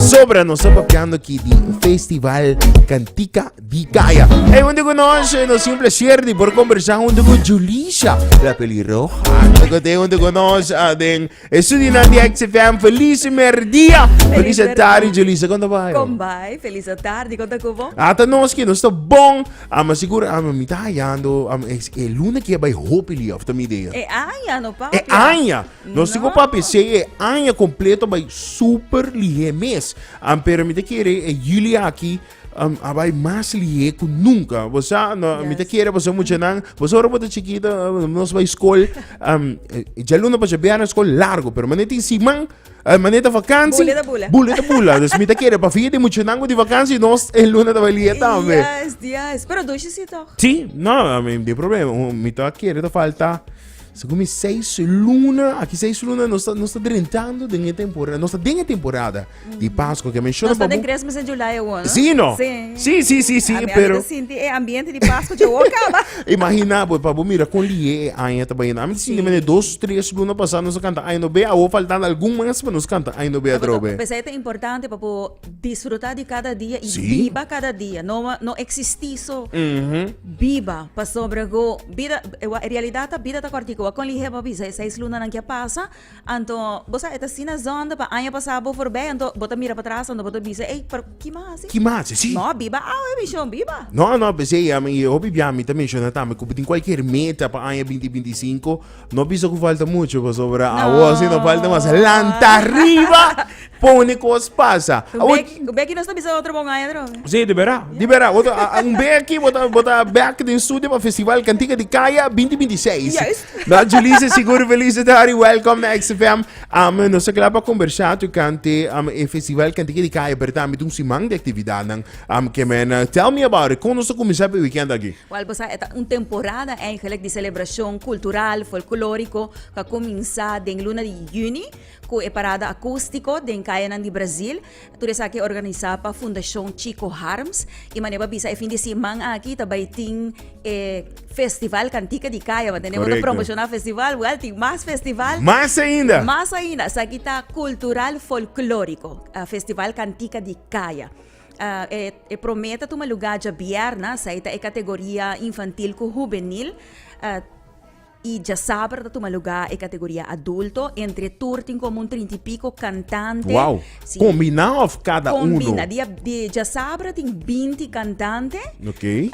Sobra nos a papiando aquí di Festival Cantica di Caya. Hey, junto con nos, eh, nos un placer de por conversar junto con Julisha, la pelirroja. Toco te junto con nos, ah, den estudio na di XFM. Feliz merdia. Feliz merdia. tarde, Julisha. Quando vai? Kom bai, feliz tarde, konta kubo. Ata nos que nos tá bom, ah, mas seguro ah, mi tá hallando, ah, es, é luna que vai hopi liaf, tá minha ideia. E anja no papia. É anja. Nos tico papi sei e aña completo by super lihe mes. Ampero mi te quiere e julio aquí um, abai mas lihe ku nunca. Bosa no mi te quiere bosa mucha nan. Bosa ora bota chiquito um, nos by school um, eh, ya luna pa jabia na school largo, pero maneta in siman eh, maneta vakantie. Bule da bula. Bule da bula. Dus mi te quiere pa fie di mucha nan ku di vakantie nos e luna da lihe tambe. Yes, yes. Pero dushi si toch. Sí, no, I mean, di problema. Mi te quiere te falta Segun mi seis luna, aki seis luna nos ta, nos ta drentando den e temporada, nos ta den e temporada di Pascua que menciona Nos está den babu. Christmas en July hoor, no? Sí, no? Sí. Sí, sí, sí, sí, A mí pero... ahorita sinti e ambiente di Pascua yo hoor caba. Imagina, pues, papu, mira con lie e aña ta bayendo. A mí sinti mene dos, tres luna pasada nos a canta Ay no be, awo faltando algun mas pa nos canta Ay no be a drobe. Pesa e ta importante papu Disfruta di cada dia y biba cada dia, no no existi so biba pasobra go bida e realidad ta bida ta corti go a con lihe bo bisa e seis luna nan kia pasa anto bo sa e ta asina zonde pa aña pasa bo for bay anto bo ta mira patras anto bo ta bisa ey pero kima hasi no biba awe mi shon biba. No no p'esey ami hopi bia mi ta menciona tambe cu bo tin cualkier meta pa aña binti binti singko No bisa cu falta mucho, pasobra no. awo si no falta mas. Lanta riba, pone cos pasa. Un bek, un bek nos ta bisa otro bongaya droga. Sí, de verdad, de verdad. Bota, un bek aquí, bota, bota bek den studio para Festival Cantica de Kaya 2026. Juist. Nou, Julisse, seguro felicitari, welcome na XFM. Um, nos a clapa conversa tu cante um, e Festival Cantica de Kaya, pero también un siman de actividad. Um, que men, uh, tell me about it. Como nos a comenzar pe weekend aquí? Wal bo sa, e ta un temporada eigenlijk di celebracion cultural, folclorico, cu a cuminsa den luna di juni cu e parada acustico den cayanan di Brasil. Tur esaki organisa pa Fundacion Chico Harms y manera bo a bisa e fin di siman aki ta bay tin e festival Cantica di Caya, want tenemos ta promociona festival, wal tin mas festival, mas ainda, mas ainda, esaki ta cultural folclorico, festival Cantica di Caya. E promé ta tuma lugá djabièrna, sa e ta e kategoria infantil ku hubenil. I djasaber ta tuma lugá e kategoria adulto. Entre tur tin komo un trinta i piko kantante. Wou! Kombiná òf kada unu? Kombiná. Di djasaber tin binti kantante. Ok.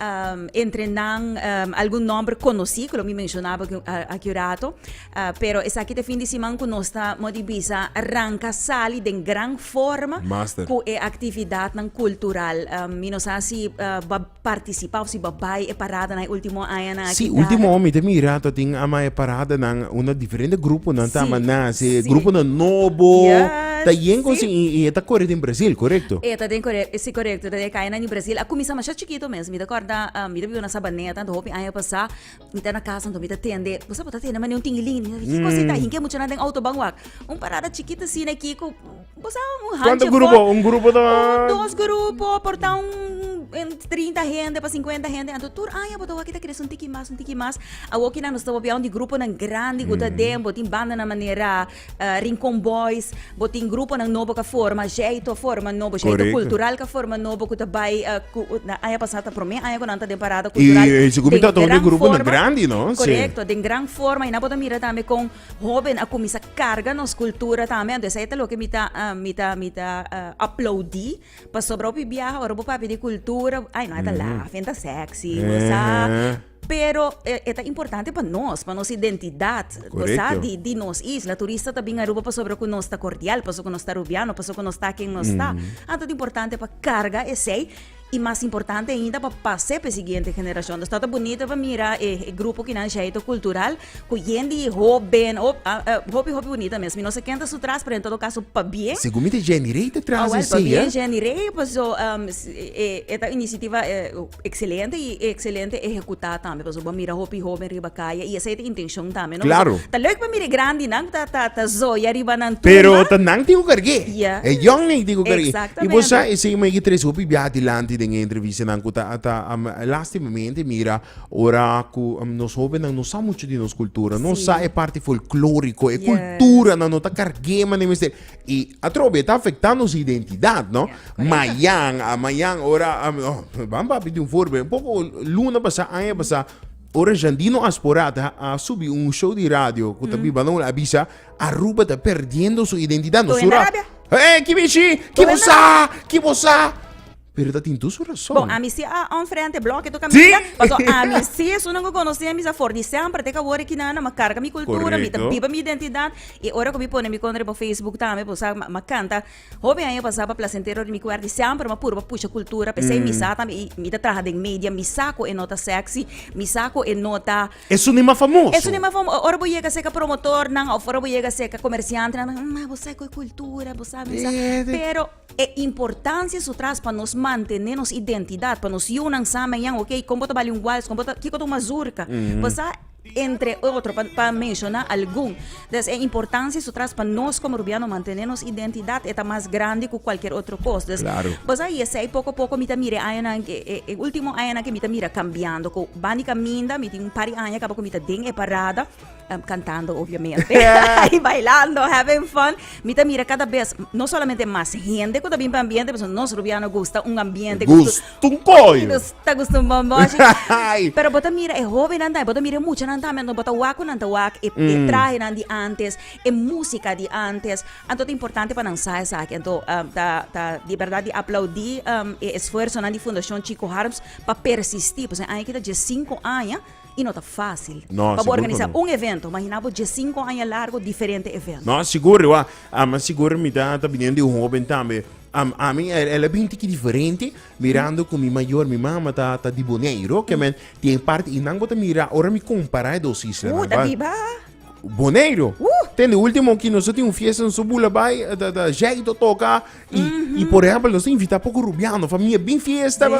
Entre nan algun nòmber konosí, ku lo mi menshonaba aki un rato. Pero esaki ta e fin di siman ku nos ta, modi bisa, ranka sali den gran forma ku e aktividatnan kultural. Mi no sa si bo a partisipá òf si bo a bai e paradanan e último añanan aki. Sí, último aña mi ta mira ta tin ama e paradanan unda diferente gruponan ta ama nase, gruponan nobo ta yen kosi i e ta kore den Brazil, korekto? E ta den, sí, korekto, e ta den e kayanan di Brazil. A kuminsá masha chikitu mes. Mi ta kòrda mi ta biba na Sabaneta anto hopi aña pasá. Mi ta na casa anto mi ta tende bo sa bo ta tende mane un tingilin mi di ki cosa e ta ahin ke muchanan den auto ban wak un parada chikit asina aki ku bo sa un hanchi afo un dos grupo por ta un trinta hende pa sinkuenta hende anto tur aña bo ta wak e ta kere esun tiki mas un tiki mas awokinan nos ta wak bia un di gruponan grandi ku ta den bo tin bandanan manera Rincon Boys, bo tin gruponan nobo ka forma, Jeyto a forma nobo, Jeyto Cultural ka forma nobo ku ta bai ku aña pasá ta promé aña ku nan ta den Parada Cultural den gran forma. I esaki ku ta un grupo grandi, no? Si. Korekto, den gran forma i nan por ta mira tambe kon hóben a kuminsá karga nos kultura tambe anto esei ta loke mi ta mi ta mi ta aplaudí pasobra hopi biaha ora bo papia di kultura ai nan e ta lafi nan e ta sèksi bo sa. Pero e ta importante pa nos, pa nos identidat, sa, di di nos isla. Turista ta bin Aruba pasobra ku nos ta kordial, pasobra ku nos ta Rubiano, pasobra ku nos ta ken nos ta. Anto ta importante pa karga esei i mas importante ainda pa pas'é pa e siguiente generashon. Nos ta ta bunito pa mira e grupo kinan Shaito Kultural ku yen di hóben, hopi hopi bunita mes. Mi no sa ken ta su tras, pero en todo kaso pabie. Segun mi ta Jenny Rey ta tras esei, eh. Awèl pabie Jenny Rey, paso e ta inisiativa. excelente y excelente ehecuta tambe pasobra bo a mira hopi hoben riba caya y esey ta intencion tambe no pasobra ta leuk pa mira e grandinan cu ta ta zoya riba nan tumba pero ta nan tin cu cargue e yongnen tin cu cargue y bo sa esey mey ki tres hopi biaha dilanti den e entrevistanan cu ta ta lastimamente mira ora cu nos hobennan no sa mucho di nos cultura no sa e parti folklorico e cultura nan no ta cargue manera mester. Y atrobe ta afecta nos identidad no mayan a mayan ora van papi di un voorbeeld un poco luna pasa aña pasa ora Jandino Asporat a subi un show di radio ku ta mm. biba no avisa Aruba ta perdiendo su identidad no sura eh kibishi kibosa kibosa Pero ta tin dus rason. Bon, ami si a on frente bloke toca mi vida, paso ami si esunnan cu conoci ami sa for di semper te cabo de kinan, ma carga mi cultura, mi ta biba mi identidad y ora cu mi pone mi contra riba Facebook tambe bo sa ma canta hopi aña pasa pa placentero di mi cuer di semper ma purba pusha cultura pesey mi sa tambe y mi ta traha den media mi sa cu e no ta sexy, mi sa cu e no ta. Esun e mas famoso. Esun e mas famo ora bo yega seca promotornan of ora bo yega seca comerciantenan ta kipsa bo sa cu e cultura bo sa misa pero. E importancia su tras pa nos mantene nos identidad, pa nos yiunan samen yan ok, con bo ta bali un wals, con bo ta, kico ta un mazurka, pasá entre otro pa pa menciona algun. Des e importancia su tras pa nos como Rubiano mantene nos identidad e ta mas grandi cu cualkier otro cos. Des, Claro. pasá y esey poco poco mi ta mira e añanan e e e ultimo añanan ke mi ta mira cambiando, cu bandi caminda, mi tin un par di aña caba cu mi ta den e parada, Cantando obviamente y bailando, having fun. Mi ta mira cada vez no solamente mas hende cu ta bin pa ambiente, pasobra nos Rubiano gusta un ambiente cu Gusto un coyo. nos ta gusta un bomboshi. Ay. Pero bo ta mira e hobennan tambe, bo ta mira e muchanan tambe, anto bo ta wak cu nan ta wak, e, e trahenan di antes, e musica di antes, anto ta importante pa nan sa esaki. Anto ah, ta, ta di berdad di aplaudi e esfuersonan di Fundacion Chico Harms pa persisti, pasobra e aña aki ta dies cinco aña. i no ta fásil pa bo organisá un evento. Imaginá bo diesinku aña largu diferente evento. No, sigur i wak. Ama sigur mi ta biniendo di un hóben tambe. Am, ami el a bin tiki diferente mirando ku mi mayor, mi mama ta ta di Boneiru, oke men tin parti i nan bo ta mira ora mi kompará e dos islanan. Uh, ta biba Boneiru. Uh. Ten di último aki nos ta tin un fiesta nos ta bula bai, ta ta Jay ta toka i i por ehempel nos ta invitá poko rubiano, fa mi a bin fiesta.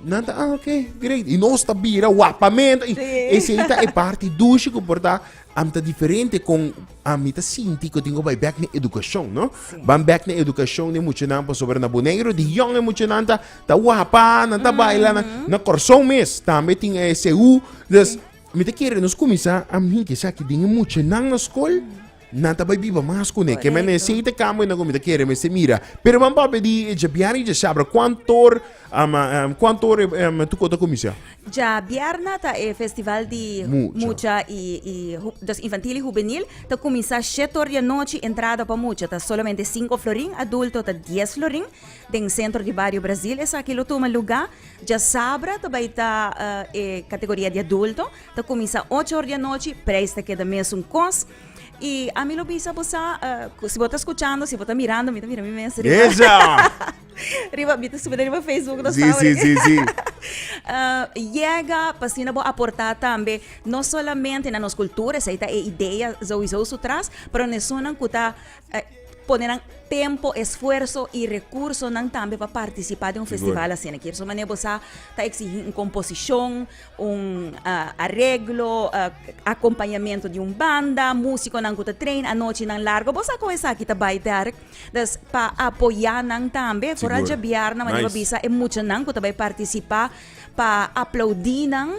Nan ta, ah, oké, great. I nos ta bira wapamento. I esei ta e parti dushi ku por ta, am ta diferente kon ami ta sinti ku tin ku bai bèk na edukashon, no? Ban bèk na edukashon den muchanan pasobra na Boneiru di yòn e muchanan ta ta wapa, nan ta baila, nan na Kòrsou mes tambe tin e SU. Des mi ta kere nos kuminsá am hint esaki den e muchanan na skol. Nan ta bai biba mas kuné. Ke mene si ei ta kambia nan ku mi ta kere mester mira. Pero man papia di e djabièrna i djasabra kuantu or am am kuantu or e tukó ta kuminsá? Djabièrna ta e festival di Mucha. mucha i i hu dòs infantil i hubenil ta kuminsá shete or di anochi. Entrada pa mucha ta solamente sinku florin, adulto ta dies florin den sentro di bario Brazil. Esaki lo tuma lugá djasabra ta bai ta e kategoria di adulto. Ta kuminsá ocho or di anochi, preis ta keda mesun kos. I ami lo bisa bo sa, eh, si bo ta skuchando, si bo ta mirando, mi ta mira mi mes riba. Esa! riba, mi ta subi riba Facebook, no Sí, sí, sí, sí. Ah, yega pa asina bo aportá tambe, no solamente na nos kultura, esei ta e idea souiso su tras, pero na esonnan ku ta eh, pone nan tempo, esfuerso i rekursonan tambe pa partisipá den un Sigur. festival asina. Kier so manera bo sa, ta eksigí un komposishon, un areglo, akompañamentu di un banda, músikonan ku ta treina anochinan largu. Bo sa kon esaki ta bai dèrk. Dus pa apoyá nan tambe, foral dje bier nan manda bo bisa e muchanan ku ta bai partisipá pa aplaudí nan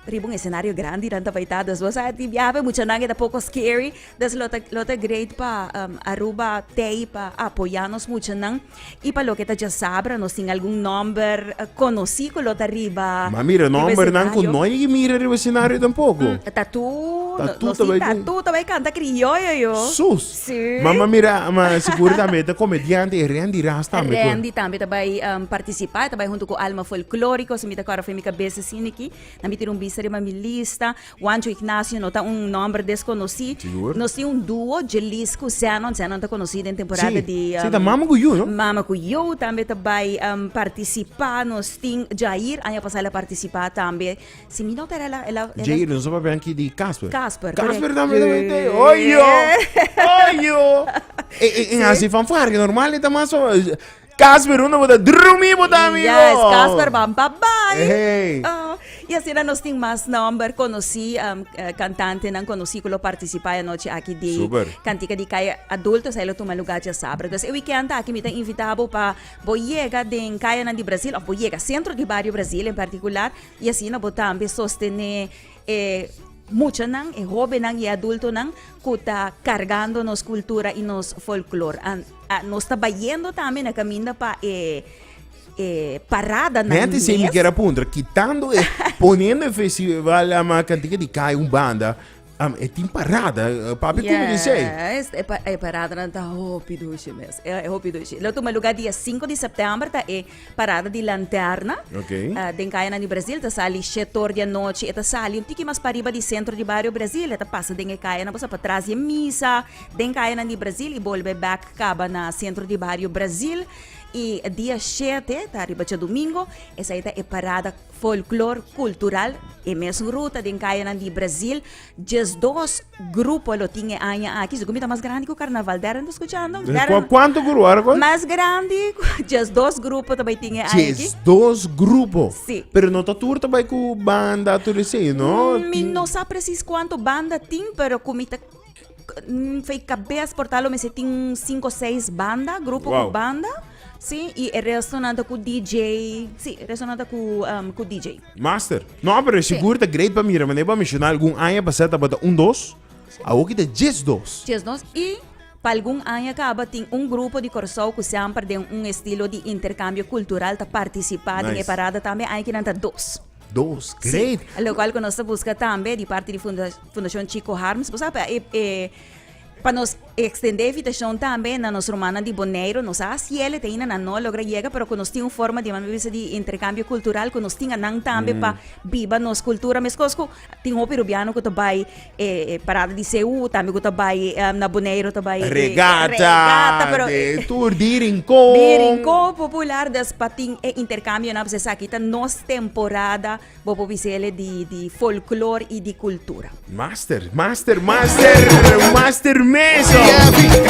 riba un esenario grandi nan ta bai ta. Dus bo sa di biaha e muchanan e ta poko scary. Dus lo ta lo ta great pa Aruba Tei pa apoyá nos muchanan. Y pa loke ta djasabra nos tin algun nomber conoci cu lo ta riba. Ma mira nombernan cu no yegi mira riba escenario tampoco. Mm, tatu, tatu no, no tatu ta bai canta criollo yo. Sus. Sí. Ma, ma mira, ma seguro también ta comediante y Randy Ras también. Randy también ta bai um, participar, ta bai junto cu Alma Folklórico, si mi ta cora mi cabeza siniki, na mi tira un vista riba mi lista. Juancho Ignacio no ta un nòmber desconocí. Nos tin un dúo, Djelis cu Zenon. Zenon ta conocí den temporada di. Sí, sí, ta Mama cu Yu, no? Mama cu Yu tambe ta bai participá. Nos tin Jair, aña pasá el a participá tambe. Si mi no ta errá, el a. Jair, nos a papia aki di Casper. Casper, corect. Casper tambe ta bai tei. Oyo! Oyo! E hasi fanfarria, normal e ta mas. Casper, unda bo ta? Drumí bo ta, amigo? Yes, Casper, ban pa bai. Hey. Oh, y asina nos tin mas nomber conocí, um, eh, cantantenan conocí cu lo participá e anochi aki di Super. Cantica di Calle Adultos, ahí lo tuma lugar djasaber. Entonces, e weekend aki mi ta invitá bo pa bo yega den cayanan di Brazil, of bo yega centro di Barrio Brazil en particular, y asina bo tambe sostené e muchanan, e hóbennan i e adultonan ku ta kargando nos kultura i nos folklor. An, a, nos ta bayendo tambe na kaminda pa e e paradanan Hente sin mi mes. kera puntra, kitando e, poniendo e festival ama kantika di kai un banda, am, e tin parada, eh, papi kume di sei. Yes, e, pa, e paradanan ta hopi dushi mes. E, e hopi dushi. Lo tuma lugar dia 5 di september ta e Parada di Lanterna. Okay. Ah, den kayanan di Brasil ta sali shet or di anochi. E ta sali un tiki mas pa riba di sentro di bario Brasil. E ta pasa den e kayanan, pasa pa tras di e misa den kayanan di Brasil i bolbe back kaba na sentro di bario Brasil. I dia shete, ta riba djadumingo, esei ta e parada Folklor kultural e mes ruta den kayanan di Brazil djes dos grupo lo tin e aña aki si ku mi ta mas grandi ku karnaval dèren ta skuchando dèren Kuantu grupo ora ku? mas grandi ku djes dos grupo ta bai tin e aña aki Djes dos grupo Si. pero no ta tur ta bai ku banda tur esei no mi tin no sa presis kuantu banda tin pero ku mi ta Fei kabes por ta lo mester tin cinco o seis banda, grupo wow. cu banda. Sí, y el resto nada cu DJ. Sí, el resto nada cu, um, cu DJ. Master. No, pero sí. seguro está great para mira, maneira para mencionar algún año pasado estaba un dos, ahora que está diez dos. Diez dos y para algún año acaba tin un grupo de Corsou que siempre de un estilo de intercambio cultural ta participar nice. en parada también hay que nanta dos. Dos, great. Sí, lo cual que nos ta busca tambe di parte di funda Fundacion Chico Harms. Vos sabe, e, e, pa nos extende invitacion tambe na nos romanan di Boneiro. Nos a ciele te ina na no logra llega, pero que nos tin un forma di mami bisa di intercambio cultural que nos tin anan tambe pa biba nos cultura. Mes cosco, tin hopi rubiano que ta bai e parada di CU tambe ku ta bai eh, na Boneiru ta bai eh, Regata, regata, pero de tur di rincon. Di rincon popular dus pa tin e intercambio na se saki ta nos temporada bo por bisele di di folklor i di kultura. Master, master, master, master meso.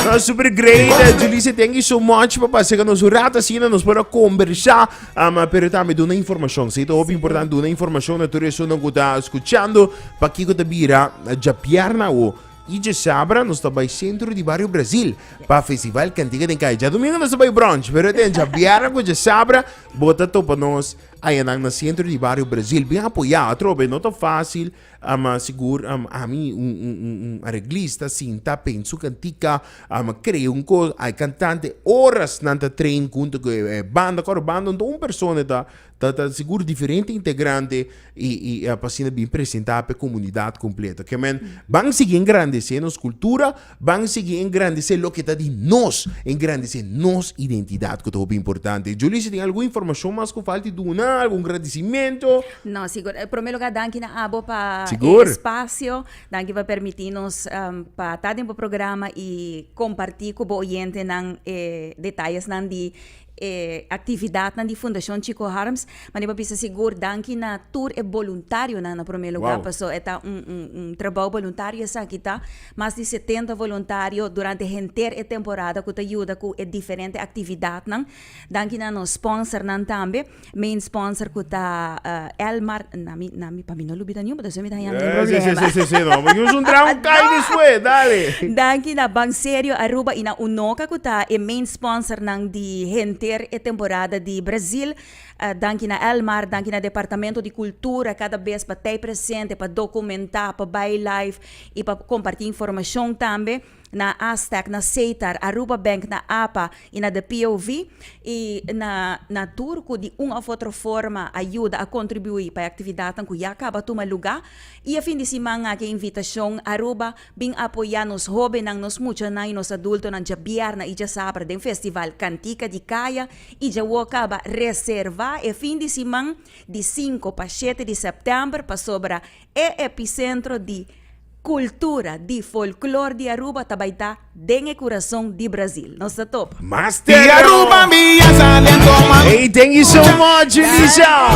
No super great. Julise, thank you so much pa pasega nos un rato asina nos por a conversa. Ama, pero tambe duna informashon. Si ta hopi importante duna informashon na tur esunnan ku ta skuchando, pakiko ta bira djapiar na awo. I djasabra nos ta bai sentro di bario Brazil pa festival Cantiga den Cai. Djadumingu nos ta bai brunch, pero den djabièrnè ku djasabra bo ta topa nos ayanan na sentro di bario Brazil. Bin apoyá atrobe, no ta fásil. Ama sigur ami un areglista sinta pensu kantika ama krea un kos hay kantante oras nan ta train hunto ku e banda kor banda un ta un persona ta ta ta sigur diferente integrante i i apa asina bin presenta p'e komunidat kompleto kemen ban sigui engrandese nos kultura Ban sigui engrandisé loke ta di nos, engrandisé nos identidat ku ta hopi importante. Julie, si tin algun informashon mas ku falti duna, algun gradisimentu. No, sigur. E promé lugá danki na abo pa e espasio. Danki pa permití nos pa ta den bo programa i kompartí ku bo oyentenan e detayesnan di. e actividadnan di Fundacion Chico Harms. Mandi pa bisa sigur danki na tur e boluntarionan na prome luga wow. paso e ta un, un, un trabao boluntario esaki ta. Mas di 70 voluntario durante henter e temporada ku ta yuda ku e diferente actividadnan. Danki na nos sponsornan tambe. Main sponsor ku ta Elmar na mi na mi pa mi no lo bida niun pasobra mi ta haña algun problema. Sí, sí, sí, no, porque nos un traha un kai despues, dale. Danki na Banserio Aruba i na Unoka ku ta e main sponsornan di henter e temporada di Brazil. Danki na Elmar, danki na Departamento di Kultura kada bes pa ta ei presente, pa dokumentá, pa bai live i pa kompartí informashon tambe. na Aztec, na Setar, Aruba Bank, na apa y na the POV y na na tur cu di un of otro forma a yuda a contribui pa e actividadnan cu ya caba tuma lugar y e fin di siman aki invitacion Aruba bin apoya nos hobennan, nos muchanan y nos adultonan djabièrna y djasabra den festival Cantica di Caya y dja wou caba reserva e fin di siman di cinco pa shete di september pasobra E episentro di kultura, di folklor di Aruba ta bai ta den e kurason di Brasil. Nos ta topa. Ey thank you so much Elisa.